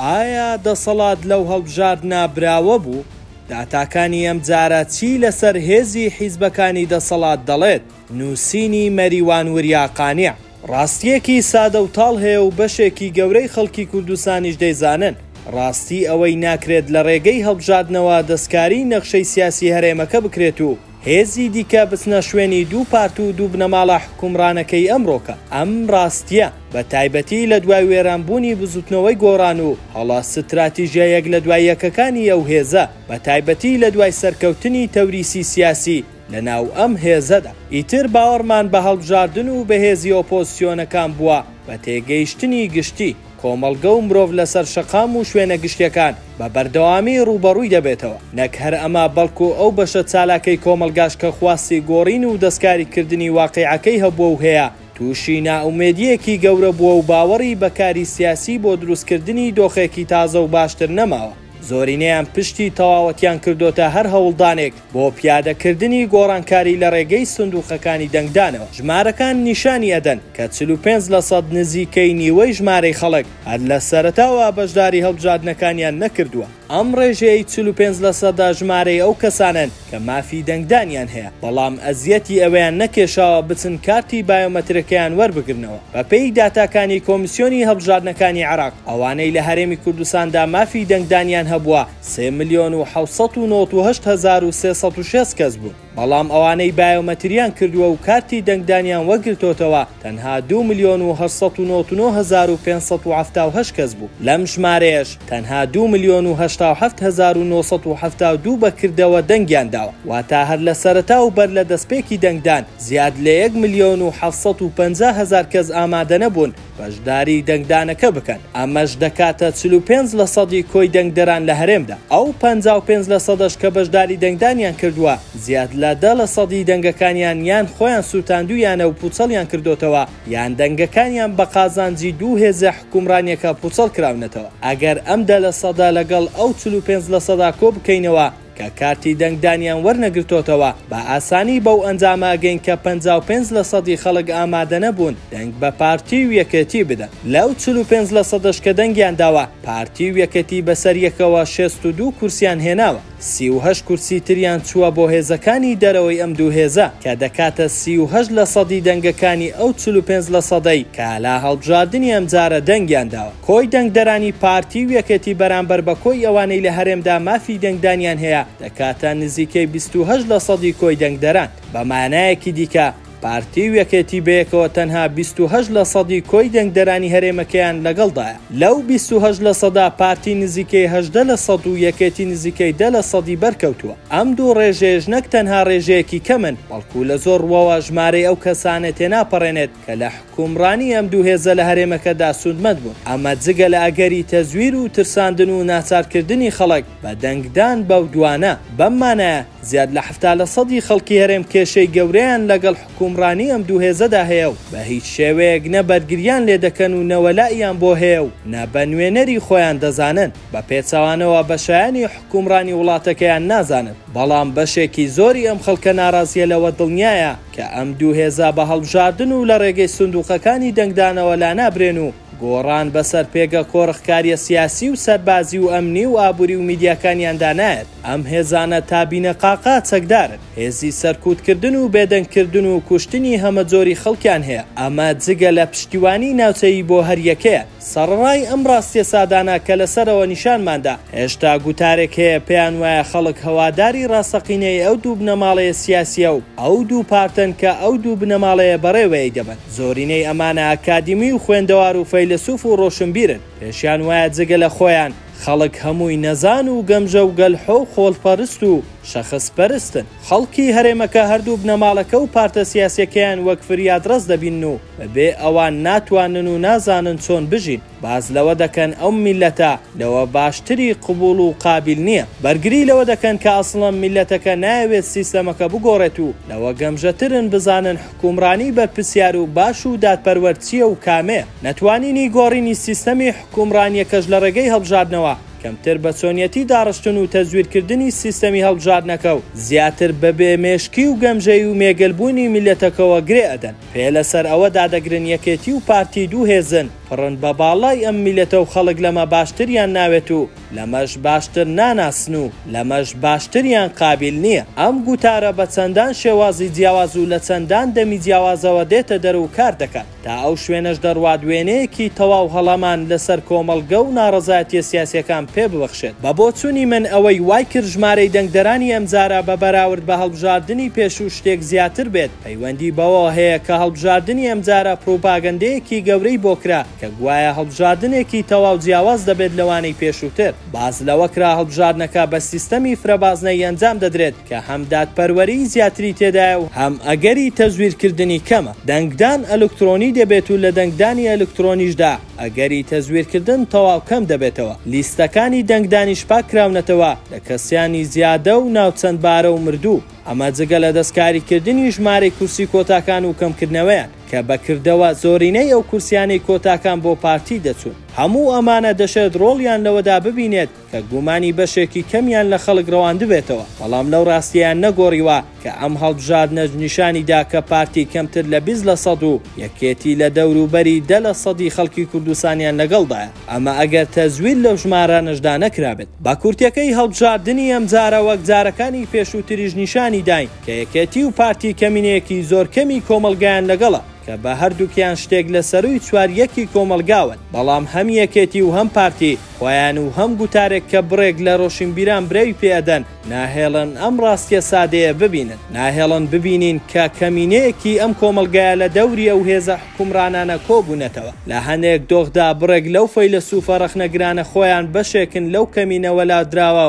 ئایا دەسەڵات لەو هەڵبژاردنە براوە بوو؟ داتاکانی ئەمجارە چی لەسەر هێزی حیزبەکانی دەسەڵات دەڵێت؟ نووسینی مەریوان وریا قانیع. ڕاستییەکی سادە و تاڵ هەیە و بەشێکی گەورەی خەڵکی کوردستانیش دەیزانن، ڕاستی ئەوەی ناکرێت لە ڕێگەی هەڵبژاردنەوە دەستکاریی نەخشەی سیاسی هەرێمەکە بکرێت و هێزی دیکە بچنە شوێنی دوو پارت و دوو بنەماڵە حوکمڕانەکەی ئەمڕۆکە. ئەم ڕاستییە، بە تایبەتی لە دوای وێرانبوونی بزووتنەوەی گۆڕان و هەڵە ستراتیژە یەک لە دوای یەکەکانی ئەو هێزە، بە تایبەتی لە دوای سەرکەوتنی تەوریسی سیاسی لە ناو ئەم هێزەدا، ئیتر باوەڕمان بە هەڵبژاردن و بەهێزی ئۆپۆزسیۆنەکان بووە بە تێگەیشتنی گشتی. کۆمەڵگە و مرۆڤ لەسەر شەقام و شوێنە گشتیەکان بە بەردەوامی ڕووبەڕووی دەبێتەوە، نەک هەر ئەمە بەڵکو ئەو بەشە چالاکەی کۆمەڵگاش کە خواستی گۆڕین و دەستکاری کردنی واقیعەکەی هەبووە و هەیە تووشی نائومێدیەکی گەورە بووە و باوەڕی بە کاری سیاسی بۆ دروست کردنی دۆخێکی تازە و باشتر نەماوە، زۆرینەیان پشتی تەواوەتیان کردۆتە هەر هەوڵدانێک بۆ پیادەکردنی گۆڕانکاری لە رێگەی سندوقەکانی دەنگدانەوە، ژمارەکان نیشانی ئەدەن کە چل و پێنج لە سەد نزیکەی نیوەی ژمارەی خەڵک هەر لە سەرەتاوە بەشداری هەڵبژاردنەکانیان نەکردووە، ئەم رێژەیەی چل و پێنج لە سەدە ژمارەی ئەو کەسانەن کە مافی دەنگدانیان هەیە بەڵام ئەزیەتی ئەویان نەکێشاوە بچن کارتی بایۆمەترەکەیان وەربگرنەوە، بەپێی داتاکانی کۆمیسیۆنی هەڵبژاردنەکانی عێراق ئەوانەی لە هەرێمی کوردستاندا مافی دەنگدانیان هەبووە، سێ ملیۆن و حەوت سەد و نۆت و هەشت هەزار و سێ سەد و شێست کەس بوون، بەڵام ئەوانەی بایۆمەترییان کردووە و کارتی دەنگدانیان وەرگرتۆتەوە تەنها دوو ملیۆن و هەشت سەد و نۆت و نۆ هەزار و پێنج سەد و حەفتا و هەشت کەس بوو، لەم ژمارەیەش تەنها دوو ملیۆن و هەشتا و حەفت هەزار و نۆ سەد و حەفتا و دوو بە کردەوە دەنگیان داوە، واتە هەر لە سەرەتا و بەر لە دەستپێکی دەنگدان زیاد لە یەک ملیۆن و حەفت سەد و پەنجا هەزار کەس ئامادەنەبوون. بەشداری دەنگدانەکە بکەن، ئەمەش دەکاتە چل و پێنج لەسەدی کۆی دەنگدەران لە هەرێمدا، ئەو پەنجا و پێنج لەسەدەش کە بەشداری دەنگدانیان کردووە زیاد لە دە لەسەدی دەنگەکانیان یان خۆیان سووتاندوویانە و پووچەڵیان کردۆتەوە یان دەنگەکانیان بە قازانجی دوو هێزە حوکمڕانیەکە پووچەڵ کراونەتەوە، ئەگەر ئەم دە لەسەدە لەگەڵ ئەو چل و پێنج لەسەدا کۆ بکەینەوە، کە کارتی دەنگدانیان وەرنەگرتۆتەوە، بە ئاسانی بەو ئەنجامە ئەگەین کە پەنجا و پێنج لە سەدی خەڵک ئامادەنەبوون دەنگ بە پارتی و یەکێتی بدەن، لەو چل و پێنج لە سەدەش کە دەنگیان داوە، پارتی و یەکێتی بەسەر یەکەوە شێست و دوو کورسیان هێناوە، سی و هەشت کورسی تریان چووە بۆ هێزەکانی دەرەوەی ئەم دوو هێزە، کە دەکاتە سی و هەشت لە سەدی دەنگەکانی ئەو چل و پێنج لە سەدەی کە لە هەڵبژاردنی ئەمجارە دەنگیان داوە. کۆی دەنگدەرانی پارتی و یەکێتی بەرامبەر بە کۆی ئەوانەی لە هەرێمدا مافی دەنگدانیان هەیە دەکاتە نزیکەی بیست و هەشت لەسەدی کۆی دەنگدەران. بە مانایەکی دیکە پارتی و یەکێتی بەیەکەوە تەنها بیست و هەشت لەسەدی کۆی دەنگدەرانی هەرێمەکەیان لەگەڵدایە. لەو بیست و هەشت لەسەدا پارتی نزیکەی هەژدە لەسەد و یەکێتی نزیکەی دە لەسەدی بەرکەوتووە. ئەم دوو ڕێژەیەش نەک تەنها ڕێژەیەکی کەمن، بەڵکو لە زۆر ڕووەوە ژمارەی ئەو کەسانە تێناپەڕێنێت، کە لە حوکمڕانی ئەم دوو هێزە لە هەرێمەکەدا سوودمەند بوون، ئەمە جگە لە ئەگەری تەزویر و ترساندن و ناچارکردنی خەڵک بە دەنگدان بەو دوانە. بەم مانایە زیاد لە حەفتا لە سەدی خەڵکی هەرێم کێشەی گەورەیان لەگەڵ حوکمڕانی ئەم دوو هێزەدا هەیە و بە هیچ شێوەیەک نە بەرگریان لێ دەکەن و نە وەلائیان بۆ هەیە و نە بە نوێنەری خۆیان دەزانن. بە پێچەوانەوە بە شایانی حوکمڕانی وڵاتەکەیان نازانن. بەڵام بەشێکی زۆری ئەم خەڵکە ناڕازییە لەوە دڵنیایە، کە ئەم دوو هێزە بە هەڵبژاردن و لە ڕێگەی سندوقەکانی دەنگدانەوە لانابرێن و گۆڕان بەسەر پێگە کۆڕخکاریە سیاسی و سەربازی و ئەمنی و ئابوری و میدیاکانیاندا نایەت، ئەم هێزانە تا بینەقاقا چەکدارن، هێزی سەرکوتکردن و بێدەنگکردن و کوشتنی هەمەجۆری خەڵکیان هەیە، ئەمە جگە لە پشتیوانی ناوچەیی بۆ هەریەکەیان. سەڕەڕای ئەم ڕاستیە سادانە کە لە سەرەوە نیشانمان دا، هێشتا گوتارێک هەیە پێیان وایە خەڵک هەواداری ڕاستەقینەی ئەو دوو بنەماڵەیە سیاسیە و ئەو دوو پارتەن کە ئەو دوو بنەماڵەیە بەڕێوەی دەبەن. زۆرینەی ئەمانە ئەکادیمی و خوێندەوار و فەیلەسوف و ڕۆشنبیرن، پێشیان وایە جگە لە خۆیان، خەڵک هەمووی نەزان و گەمژە و گەلحۆ و خۆلپەرست و شەخس پەرستن. خەڵکی هەرێمەکە هەردوو بنەماڵەکە و پارتە سیاسیەکەیان وەک فریادڕەس دەبینن و بەبێ ئەوان ناتوانن و نازانن چۆن بژین. باس لەوە دەکەن ئەو میللەتە لەوە باشتری قبوڵ و قابیل نیە. بەرگری لەوە دەکەن کە ئەسڵەن میللەتەکە نایەوێت سیستەمەکە بگۆڕێت و لەوە گەمژەترن بزانن حکومڕانی بەرپرسیار و باش و دادپەروەر چییە و کامەیە؟ نەتوانینی گۆڕینی سیستەمی حکومڕانییەکەش لە ڕێگەی هەڵبژاردنەوە کەمتر بە چۆنیەتی داڕشتن و تەزویرکردنی سیستەمی هەڵبژاردنەکە و زیاتر بە بێ مێشکی و گەمژەیی و مێگەل بوونی میللەتەکەوە گرێ ئەدەن. پێ لە سەر ئەوە دادەگرن یەکێتی و پارتی دوو هێزن، پڕن بە باڵای ئەم میللەتە و خەڵک لەمە باشتریان ناوێت و لەمەش باشتر ناناسن و لەمەش باشتریان قابیل نییە. ئەم گوتارە بە چەندان شێوازی جیاواز و لە چەندان دەمی جیاوازەوە دێتە دەر و کار دەکات. تا ئەو شوێنەش دەڕوات وێنەیەکی تەواو هەڵەمان لە سەر کۆمەڵگە و ناڕەزایەتییە سیاسییەکان پێ ببەخشێت. بە بۆچوونی من ئەوەی وای کرد ژمارەی دەنگدەرانی ئەمجارە بە بەراورد بە هەڵبژاردنی پێشوو شتێک زیاتر بێت، پەیوەندی بەوەوە هەیە کە هەڵبژاردنی ئەمجارە پڕوپاگەندەیەکی گەورەی بۆ کرا، کە گوایە هەڵبژاردنێکی تەواو جیاواز دەبێت لەوانەی پێشووتر، باس لەوەکرا هەڵبژاردنەکە بە سیستەمی فرەبازنەیی ئەنجام دەدرێت کە هەم دادپەروەریی زیاتری تێدایە و هەم ئەگەری تەزویرکردنی کەمە، دەنگدان ئەلکترۆنی دەبێت و لە دەنگدانی ئەلکترۆنیشدا ئەگەری تەزویرکردن تەواو کەم دەبێتەوە، لیستەکانی دەنگدانیش پاککراونەتەوە لە کەسیانی زیادە و ناوچەندبارە و مردوو، ئەمە جگە لە دەستکاریکردنی ژمارەی کورسی کۆتاکان و کەمکردنەوەیان. کە بە کردەوە زۆرینەی ئەو کورسیانەی کۆتاکان بۆ پارتی دەچوون. هەموو ئەمانە دەشێت ڕۆڵیان لەوەدا ببینێت کە گومانی بەشێکی کەمیان لە خەڵک ڕەواندبێتەوە، بەڵام لەو ڕاستیەیان نەگۆڕیوە کە ئەم هەڵبژاردنەش نیشانی دا کە پارتی کەمتر لە بیست لە سەد و یەکێتی لە دەوروبەری دە لە سەدی خەڵکی کوردستانیان لەگەڵدایە، ئەمە ئەگەر تەزویر لەو ژمارانەشدا نەکرابێت. بە کورتیەکەی هەڵبژاردنی ئەمجارە وەک جارەکانی پێشووتریش نیشانی داین، کە یەکێتی و پارتی کەمینەیەکی زۆر کەمی کۆمەڵگایان لەگەڵە، کە بە هەردووکیان شتێک لە سەرووی چوار یەکی کۆمەڵگاون، بەڵام هەم یەکێتی و هەم پارتی خۆیان و هەم گوتارێک کە بڕێک لە رۆشینبیران برەوی پێ ئەدەن، ناهێڵن ئەم راستیە سادەیە ببینن، ناهێڵن ببینین کە کەمینەیەکی ئەم کۆمەڵگایە لە دەوری ئەو هێزە حوکمڕانانە کۆبوونەتەوە، لە هەندێک دۆخدا بڕێک لەو فەیلەسوفە رەخنەگرانە خۆیان بەشێکن لەو کەمینە وەلادراوە،